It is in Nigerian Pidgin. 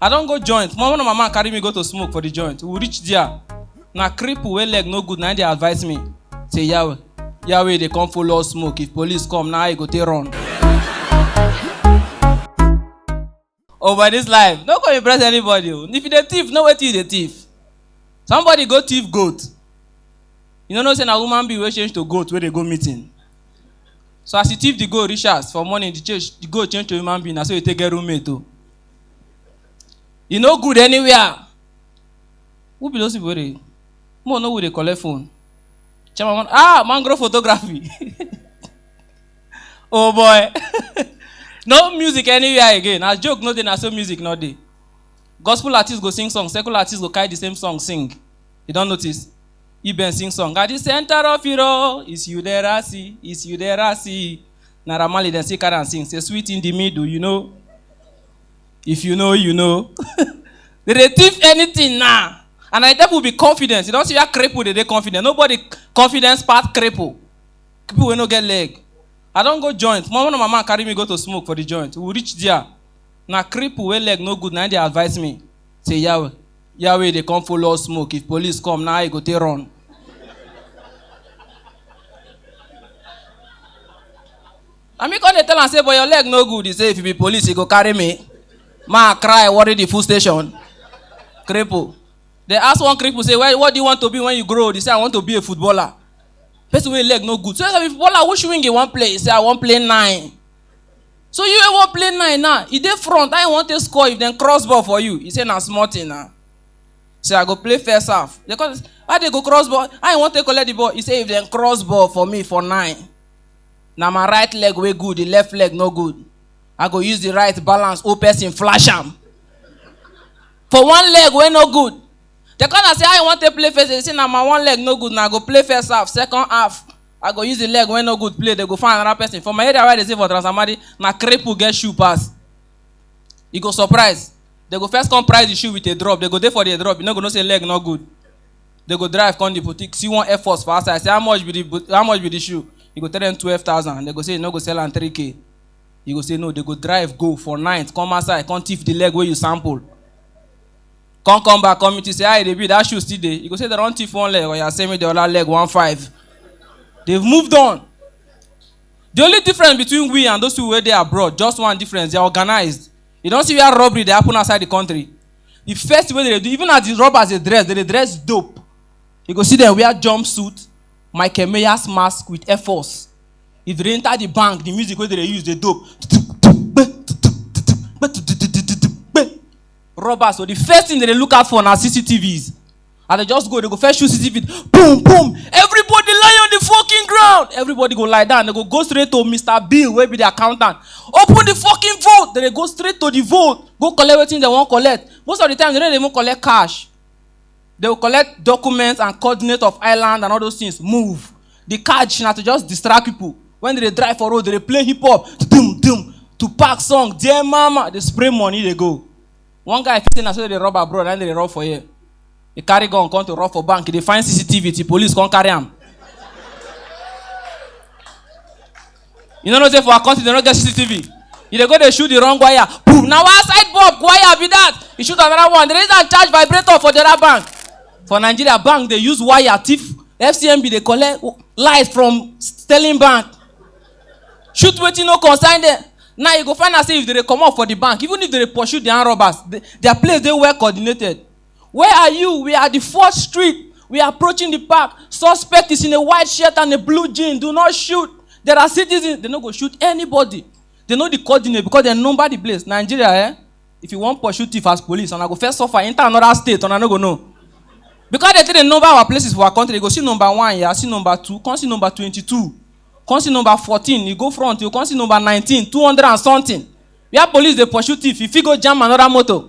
i don go joint one of my man carry me go to smoke for the joint we reach there na cripple wey leg no good na him dey advise me say yawe yawe dey come follow us smoke if police come na how you go take run. oh by this life no go impress anybody o if you dey thief know wetin you dey thief somebody go thief goat you no know say na human being wey change to goat wey dey go meeting so as you thief the goat reach house for morning the change the goat change to human being na so you take get roommate o. Oh. E no good anywhere. Who be those people wey dey? Mo no who dey collect phone. Chairman, man- ah, mangrove photography. oh boy. no music anywhere again. As joke no dey, na so music no dey. Gospel artists go sing song, secular artists go carry the same song sing. You don notice? Iben sing song. At the center of it all is you there I see, is you there I see. Naira Marley dem still carry am sing say sweet in the middle you know if you know you know they dey thief anything now and na the devil be confidence you don see where cripple dey dey confident nobody confidence pass cripple people wey no get leg i don go joint one of my man carry me go to smoke for the joint we reach there na cripple wey leg no good na him dey advise me Say Yahweh, Yahweh dey come follow us smoke. If police come, now I go take run. I mean, come dey tell am say, but your leg no good. He say, if you be police, you go carry me. Ma cry, worry the full station. Cripple. They ask one cripple, say, well, what do you want to be when you grow? They say, I want to be a footballer. Person wey leg no good. So if footballer, which wing you wan play? He say, I wan play nine. So you wey wan play nine now, e dey front, how you wan take score if dem cross ball for you? E say na small thing na. Say I go play first half. Dem come say, how dem go cross ball? How you wan take collect the ball? E say if dem cross ball for me for nine, na my right leg wey good, the left leg no good. I go use the right balance, whole person flash am. For one leg wey no good. Dem come na say how you wan take play first? E say na my one leg no good na, I go play first half, second half I go use the leg wey no good play, they go find another person. For my area where I dey stay for Transamadi, na cripple get shoe pass. You go surprise. They go first come price the shoe with a drop. They go dey for the drop. You no go know say leg no good. They go drive come the boutique, see one Air Force for outside. Say how much be the boot- how much be the shoe? You go tell them twelve thousand. They go say you no go sell am three k. You go say no. They go drive go for night, come outside, come thief the leg wey you sample. Come come back come meet you say how e dey be that shoe still dey. You go say dem don thief one leg or you send me the other leg one five. They've moved on. The only difference between we and those people wey dey abroad just one difference they are organized. You don see where robbery dey happen outside the country. The first thing wey dem dey do even as the robbers dey dress dem dey dress dope. You go see dem wear jumpsuit, Michael Myers mask with air force. If they enter the bank the music wey dem dey use dey dope. robbers so the first thing dem dey look out for na cctvs as dem just go dem go first shoot cctv boom boom everybody lie on the fucking ground everybody go lie down dem go go straight to mr bill wey be the accountant open the fucking vote dem dey go straight to the vote go collect wetin dem wan collect most of the time dem no dey even collect cash they will collect documents and coordinate of island and all those things move the catch na to just distract people when they dey drive for road they dey play hip hop dum dum to pack song dear mama dey spray money dey go one guy fit say na so they dey rob abroad na him dey dey rob for here he carry gun come to rob for bank he dey find cctv till police come carry am you no know say for our country dem no get cctv you dey go dey shoot the wrong wire boom na one side bulb wire be that you shoot another one the reason i charge vibrator for the other bank for nigeria bank dey use wire thief fcmb dey collect lies from sterling bank shoot wetin no concern them now you go find out say if they dey comot for the bank even if they dey pursue their robbers the, their place dey well coordinated Where are you? We are at the fourth street. We are approaching the park. Suspect is in a white shirt and a blue jean. Do not shoot. There are citizens. They no go shoot anybody. They know the coordinate because they number the place. Nigeria, eh? If you want pursue thief as police, and I go first suffer, enter another state, and I no go know. Because they take the number our places for our country, they go see number one, yeah, see number two, come see number twenty-two, come see number fourteen, you go front, you come see number nineteen, two hundred and something. Where police dey pursue thief, you fit go jam another motor.